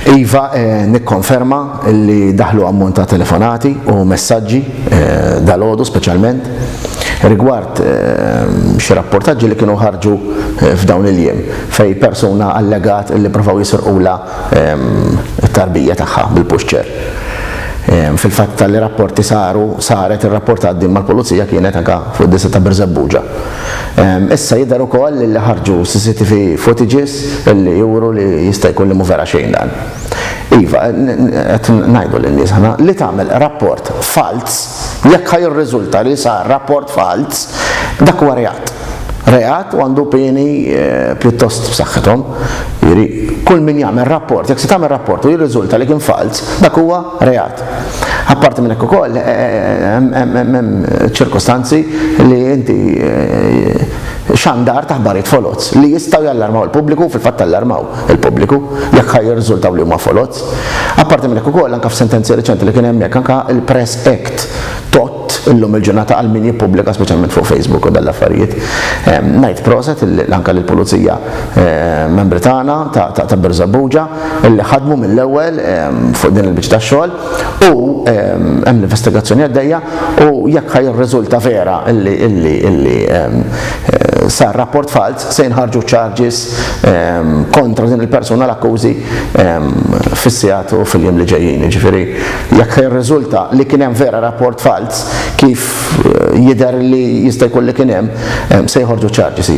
Iva, nikkonferma li daħlu ammont ta' telefonati u messaġġi dalgħodu speċjalment rigward xi rapportaġġi li kienu ħarġu f'dawn il-jiem fejn persuna allegat li provaw jisirqulha t-tarbija tagħha bil-puxċer. Fil-fatt tali rapporti saru, saret irrapportat din mal-Pulizija kienet anke fid-Distrett ta' Birżebbuġa. Issa jidher ukoll li ħarġu CCTV footages li juru li jista' jkun li mhu vera xejn dan. Iva, qed ngħidu lin-nies aħna li tagħmel rapport falz, jekk ħa jirriżulta li sar rapport falz, dak huwa reat. Reat u għandu pieni pjuttost b'saħħithom. Jiġifieri, kull min jagħmel rapport, jekk se tagħmel rapport u jirriżulta li kien falz, dak huwa reat. Apparti minn hekk ukoll hemm ċirkostanzi li inti xandar ta' ħbarijiet foloz li jistgħu jallarmaw il-pubbliku u fil-fatt allarmaw il-pubbliku jekk ħa jirriżultaw li huma foloz. Apparti minn hekk ukoll anke f'sentenzi riċenti li kien hemm hekk anke il-Press Act tgħodd illum il-ġurnata għal min jippubblika speċjalment fuq Facebook u dan l-affarijiet. Ngħid proset anke lill-Pulizija membri tagħna ta' Birżebbuġa. li ħadmu mill-ewwel fuq din il-biċċa ta' xogħol u hemm l-investigazzjoni għaddejja u jekk ħa jirriżulta vera illi illi illi sar rapport falz se jinħarġu charges kontra din il-persuna l-akkużi fis-sigħat u fil-jiem li ġejjin. Jiġifieri jekk ħa jirriżulta li kien hemm vera rapport falz kif jidher li jista' jkun li kien hemm se jħorġu charges.